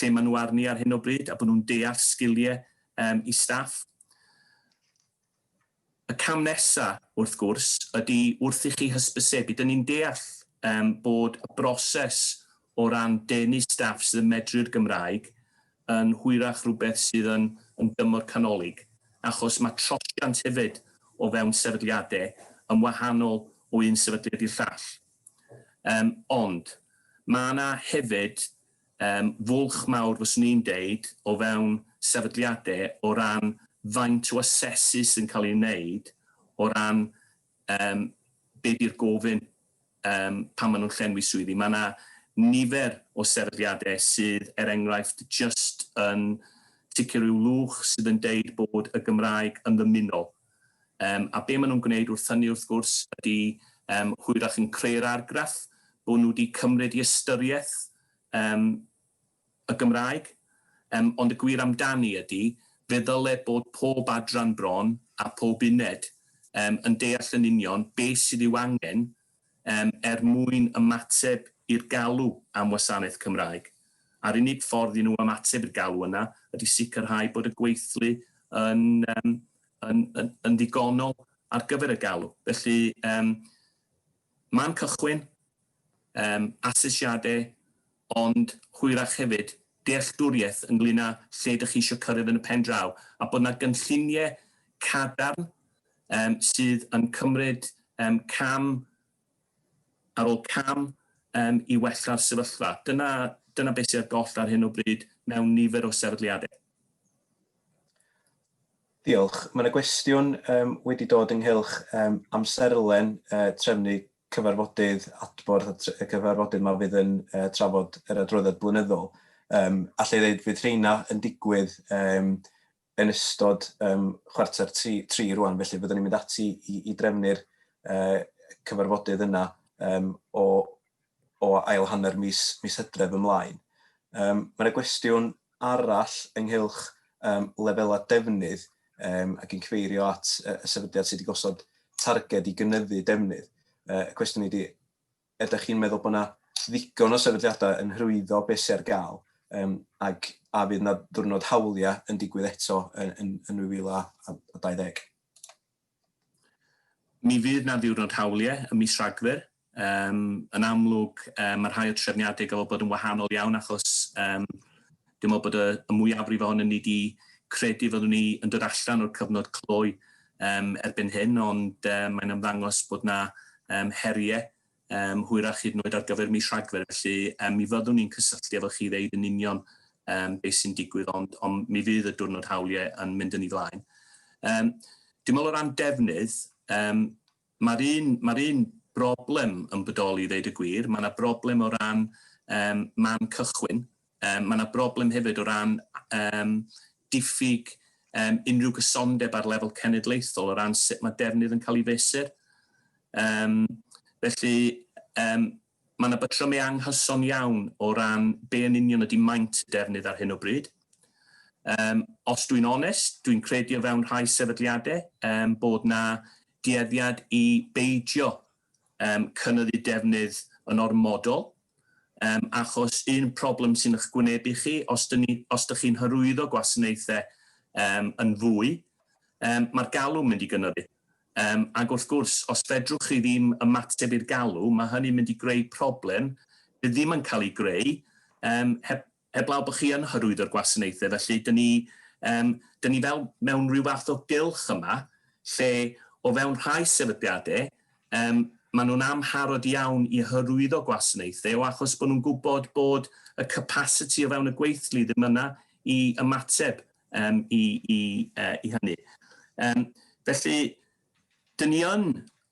lle ma' nhw arni ar hyn o bryd a bod nhw'n deall sgilie yym i staff. Y cam nesa, wrth gwrs, ydi wrth i chi hysbysebu. Dyn ni'n deall yym bod y broses o ran denu staff sydd yn medru'r Gymraeg yn hwyrach rhywbeth sydd yn yn dymor canolig, achos mae trosiant hefyd o fewn sefydliade yn wahanol o un sefydliad i'r llall. Yym ond ma' 'na hefyd Yym, fwlch mawr fyswn i'n deud o fewn sefydliade o ran faint o asesu sy'n cael ei wneud o ran yym be di'r gofyn yym pan ma' nhw'n llenwi swyddi. Ma' 'na nifer o sefydliade sydd er enghraifft jyst yn ticio ryw lwch sydd yn deud bod y Gymraeg yn ddymunol. Yym, a be maen nhw'n gwneud wrth hynny, wrth gwrs, ydy yym, hwyrach yn creu'r argraff bod nhw wedi cymryd i ystyriaeth yym, y Gymraeg, yym, ond y gwir amdani ydy, fe ddyle bod pob adran bron a phob uned yym, yn deall yn union beth sydd i'w angen Yym, er mwyn ymateb i'r galw am wasanaeth Cymraeg. A'r unig ffordd i nhw ymateb i'r galw yna ydy sicrhau bod y gweithlu yn yym yn yn yn ddigonol ar gyfer y galw. Felly, yym, man cychwyn, yym, asesiadau ond hwyrach hefyd, dealltwriaeth ynglŷn â lle dych chi eisiau cyrraedd yn y pen draw, a bod 'na gynlluniau cadarn yym sydd yn cymryd yym cam ar ôl cam yym i wella'r sefyllfa. Dyna dyna beth sydd ar goll ar hyn o bryd mewn nifer o sefydliadau. Diolch. Mae 'na gwestiwn yym wedi dod ynghylch yym amserlen yy trefnu cyfarfodydd adborth a y cyfarfodydd yma fydd yn uh, trafod yr adroddiad blynyddol. Um, allai ddeud fydd rheina yn digwydd um, yn ystod um, chwarter tri, tri rwan, felly byddwn ni'n mynd ati i, i drefnu'r uh, cyfarfodydd yna um, o, o ail hanner mis, mis hydref ymlaen. Um, Mae'n gwestiwn arall ynghylch yym lefelau defnydd yym ac yn cyfeirio at yy y sefydliad sydd wedi gosod targed i gynyddu defnydd. Yy y cwestiwn ydy, ydych chi'n meddwl bod yna ddigon o sefydliadau yn hyrwyddo beth sydd ar gael um, ac a fydd yna ddwrnod hawliau yn digwydd eto yn, yn, yn 2020? Mi fydd 'na ddiwrnod hawliau ym mis Rhagfyr. Yym, yn amlwg, yy, ma' rhai o'r trefniadau ga'l bod yn wahanol iawn achos, yym, dwi'n me'wl bod y y mwyafrif ohonon ni 'di credu fyddwn ni yn dod allan o'r cyfnod clo yym erbyn hyn ond yym mae'n ymddangos bod 'na yym herie um, hwyrach hyd yn oed ar gyfer mis Rhagfyr, felly um, mi fyddwn ni'n cysylltu efo chi ddeud yn union um, beth sy'n digwydd, ond, ond mi fydd y diwrnod hawliau yn mynd yn ei flaen. Um, Dwi'n meddwl o ran defnydd, um, mae'r un, ma un broblem yn bodoli i ddeud y gwir, mae yna broblem o ran um, man cychwyn, Yym, mae yna broblem hefyd o ran yym diffyg yym unrhyw gysondeb ar lefel cenedlaethol o ran sut mae defnydd yn cael ei fesur. Yym, felly, yym, mae yna batrymau anghyson iawn o ran be yn union ydy maint y defnydd ar hyn o bryd. Yym, os dwi'n onest, dwi'n credu o fewn rhai sefydliadau yym, bod yna dueddiad i beidio yym cynyddu defnydd yn ormodol yym achos un problem sy'n ych gwynebu chi os dyn ni os dych chi'n hyrwyddo gwasanaethau yym yn fwy yym mae'r galw'n mynd i gynyddu yym ag wrth gwrs os fedrwch chi ddim ymateb i'r galw mae hynny'n mynd i greu problem bydd ddim yn cael ei greu yym heb Heblaw bod chi yn hyrwyddo'r gwasanaethau, felly dyn ni, yym, dyn ni fel mewn rhyw fath o gylch yma, lle o fewn rhai sefydliadau, yym, maen nhw'n amharod iawn i hyrwyddo gwasanaethau o achos bod nhw'n gwybod bod y capasiti o fewn y gweithlu ddim yna i ymateb, yym, i, i, uh, i hynny. Um, felly, dyn ni yn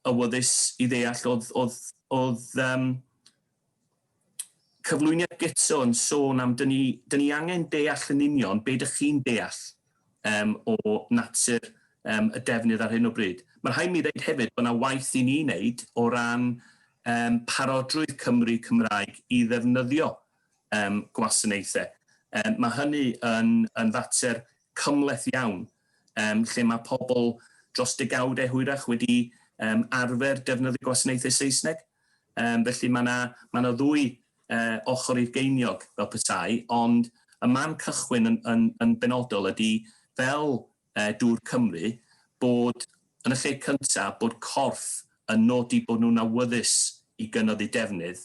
awyddus i ddeall oedd, oedd, oedd, um, cyflwyniad guto yn sôn am dyn ni dyn ni angen deall yn union be dych chi'n deall yym o natur yym y defnydd ar hyn o bryd. Mae'n rhaid mi ddeud hefyd bod yna waith i ni wneud o ran yym parodrwydd Cymry Cymraeg i ddefnyddio yym gwasanaethau. Yym mae hynny yn yn fater cymhleth iawn yym lle mae pobl dros degawdau hwyrach wedi yym arfer defnyddio gwasanaethau Saesneg. Yym, felly mae 'na, mae 'na ddwy yy ochr i'r geiniog, fel petai, ond y man cychwyn yn yn yn benodol ydi, fel yy dŵr Cymru, bod, yn y lle cynta, bod corff yn nodi bod nhw'n awyddus i gynnodd eu defnydd,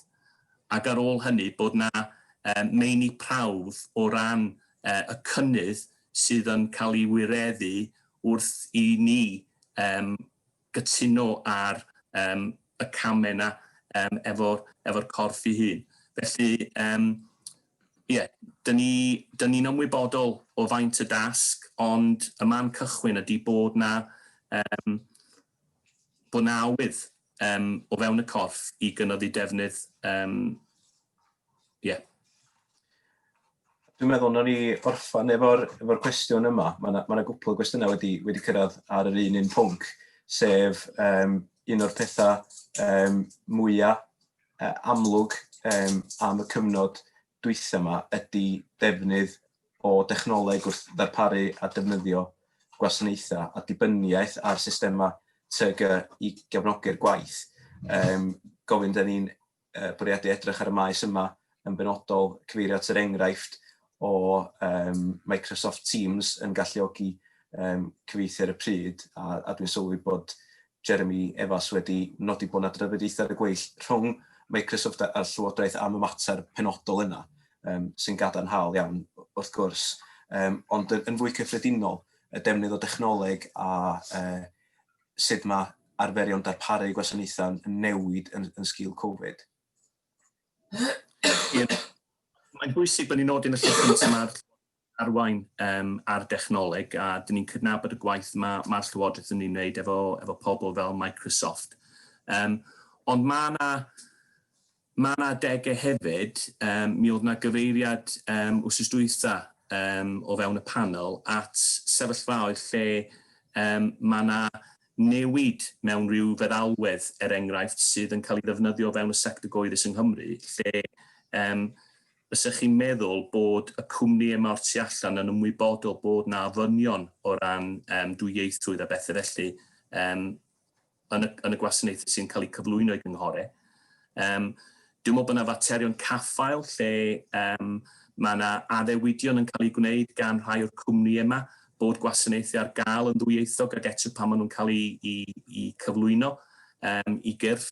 ac ar ôl hynny bod 'na yy meini prawf o ran yy y cynnydd sydd yn cael ei wireddu wrth i ni yym gytuno ar yym y camau 'na yym efo'r efo'r corff ei hun. Felly yym ie, 'dyn ni 'dyn ni'n ymwybodol o faint y dasg ond y man cychwyn ydi bod 'na yym bod 'na awydd yym o fewn y corff i gynyddu defnydd yym Ie. Yeah. Dwi'n meddwl na ni orffan efo'r efo cwestiwn yma. Mae yna ma gwpl o gwestiynau wedi, wedi cyrraedd ar yr un un pwnc, sef um, un o'r pethau um, mwyaf uh, amlwg um, am y cyfnod dwytha yma ydy defnydd o dechnoleg wrth ddarparu a defnyddio gwasanaethau a dibyniaeth ar systemau TG i gefnogi'r gwaith. Um, gofyn dyn ni'n uh, bwriadu edrych ar y maes yma yn benodol, cyfeirio at yr enghraifft o um, Microsoft Teams yn galluogi um, cyfeithu ar y pryd, a, a dwi'n sylwi bod Jeremy Evas wedi nodi bod yna drafodiaethau ar y gweill rhwng Microsoft a'r Llywodraeth am y mater penodol yna, um, sy'n gadarnhaol iawn wrth gwrs, um, ond yn, yn fwy cyffredinol, y defnydd o dechnoleg a uh, sut mae arferion darparu gwasanaethau'n newid yn, yn sgil Covid. Mae'n bwysig bod ni'n nodi yn y llyfr cyntaf mae'r arwain um, ar dechnoleg a dyn ni'n cydnabod y gwaith mae mae'r Llywodraeth yn ei wneud efo, efo pobl fel Microsoft. Um, ond mae yna Mae yna adegau hefyd, yym mi oedd yna gyfeiriad yym wsos dwytha yym o fewn y panel at sefyllfaoedd lle yym mae yna newid mewn rhyw feddalwedd er enghraifft sydd yn cael ei ddefnyddio o fewn y sector gyhoeddus yng Nghymru lle yym fysa chi'n meddwl bod y cwmnïau yma o'r tu allan yn ymwybodol bod yna ofynion o ran yym dwyieithrwydd a bethe felly yym yn y, yn y gwasanaethau sy'n cael eu cyflwyno i gynghorau. Um, dwi'n meddwl bod yna faterion caffael lle um, mae yna addewidion yn cael eu gwneud gan rhai o'r cwmni yma bod gwasanaethau ar gael yn ddwyieithog ac eto pan maen nhw'n cael eu, eu, eu cyflwyno um, i gyrff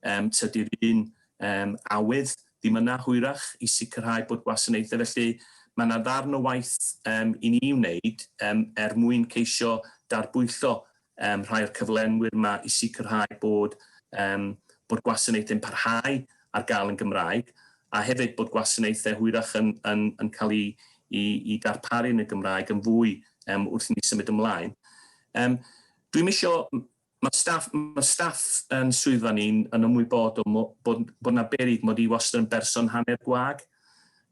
um, tydi'r un um, awydd ddim yna hwyrach i sicrhau bod gwasanaethau. Felly mae yna ddarn o waith um, i ni wneud um, er mwyn ceisio darbwyllo um, rhai o'r cyflenwyr yma i sicrhau bod, um, bod gwasanaethau'n parhau ar gael yn Gymraeg, a hefyd bod gwasanaethau hwyrach yn, yn, yn cael ei, i, i darparu yn y Gymraeg yn fwy um, wrth i ni symud ymlaen. Um, Dwi'n misio, mae staff, ma staff yn swyddfa ni'n yn ymwybodol bod, bod yna berig mod i wastad yn berson hanner gwag,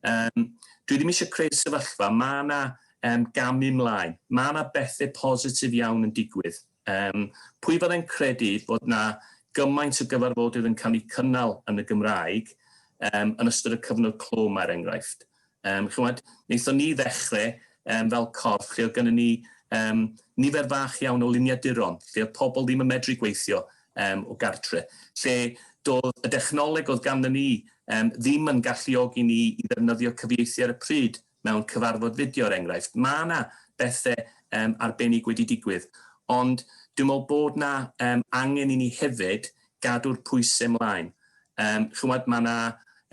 Yym, dwi ddim eisiau creu sefyllfa, mae yna um, gamu mlaen, mae yna bethau positif iawn yn digwydd. Um, pwy fyddai'n credu bod yna gymaint o gyfarfodydd yn cael eu cynnal yn y Gymraeg um, yn ystod y cyfnod clo mae'r er enghraifft. Um, chymod, wnaethon ni ddechrau um, fel corff lle oedd gennym ni um, nifer fach iawn o luniaduron, lle oedd pobl ddim yn medru gweithio, um, o gartre, lle doedd y dechnoleg oedd ganddo ni um, ddim yn galluogi ni i ddefnyddio cyfieithu ar y pryd mewn cyfarfod fideo, er enghraifft. Mae yna bethau um, arbennig wedi digwydd, ond dwi'n meddwl bod yna um, angen i ni hefyd gadw'r pwysau mlaen. Um, chymod, mae yna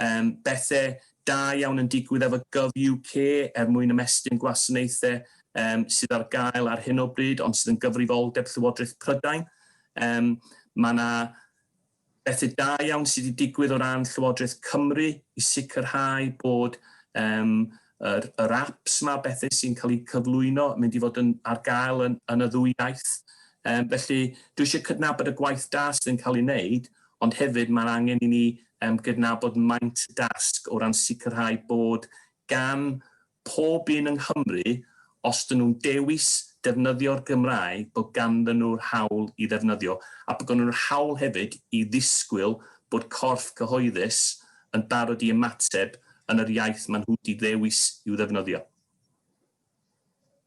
um, bethau da iawn yn digwydd efo Gov UK er mwyn ymestyn gwasanaethau um, sydd ar gael ar hyn o bryd, ond sydd yn gyfrifoldeb Llywodraeth Prydain. Yym, mae yna bethau da iawn sydd wedi digwydd o ran Llywodraeth Cymru i sicrhau bod um, yr, yr apps yma, bethau sy'n cael eu cyflwyno, mynd i fod yn, ar gael yn, yn y ddwy iaith. Um, felly, dwi eisiau cydnabod y gwaith da sydd yn cael ei wneud, ond hefyd mae'n angen i ni um, gydnabod maint y dasg o ran sicrhau bod gan pob un yng Nghymru os dyn nhw'n dewis defnyddio'r Gymraeg bod ganddyn nhw'r hawl i ddefnyddio a bod ganddo nhw'r hawl hefyd i ddisgwyl bod corff cyhoeddus yn barod i ymateb yn yr iaith maen nhw wedi ddewis i'w ddefnyddio.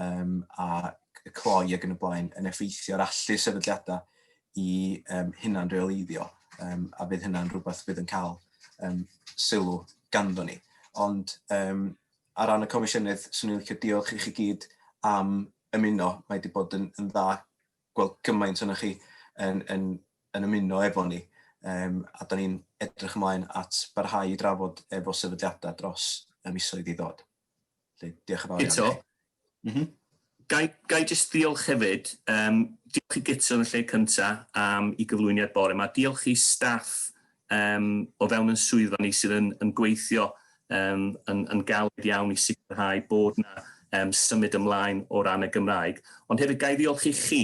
um, a cloi ac yn y blaen yn effeithio ar allu sefydliadau i um, hunan reoleiddio um, a bydd hynna'n rhywbeth bydd yn cael um, sylw ganddo ni. Ond um, ar ran y comisiynydd, swn i'n licio diolch i chi gyd am ymuno. Mae wedi bod yn, yn dda gweld gymaint o'n chi yn, yn, yn ymuno efo ni. Um, a da ni'n edrych ymlaen at barhau i drafod efo sefydliadau dros y misoedd i ddod. Felly, diolch yn fawr iawn. Guto? Mhm. Gai, gai jyst ddiolch hefyd, um, diolch i Guto yn y lle cynta am i gyflwyniad bore yma, diolch i staff um, o fewn yn swyddfa ni sydd yn, yn gweithio um, yn, yn galed iawn i sicrhau bod yna um, symud ymlaen o ran y Gymraeg. Ond hefyd gai ddiolch i chi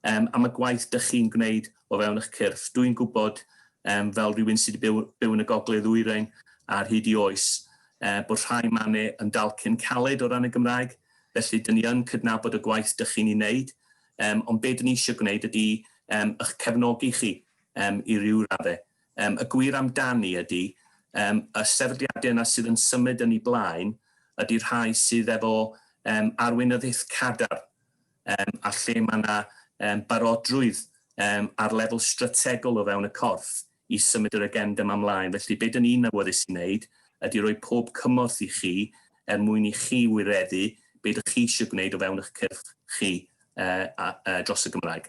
yym, am y gwaith dych chi'n gwneud o fewn eich cyrff. Dwi'n gwybod, um, fel rhywun sydd wedi byw, byw yn y gogledd ddwyrain ar hyd i oes, uh, bod rhai manu yn dal cyn caled o ran y Gymraeg, felly dyn ni yn cydnabod y gwaith dych chi'n ei wneud, um, ond be dyn ni eisiau gwneud ydy um, eich cefnogi chi um, i ryw raddau. Um, y gwir amdani ydy, um, y sefydliadau yna sydd yn symud yn ei blaen, ydy rhai sydd efo um, arweinyddiaeth cadar um, a lle mae yna um, barodrwydd um, ar lefel strategol o fewn y corff i symud yr agenda yma ymlaen. Felly, beth yn un awyddus i wneud ydy roi pob cymorth i chi er mwyn i chi wireddu beth ydych chi eisiau gwneud o fewn eich cyrff chi uh, a, uh, dros y Gymraeg.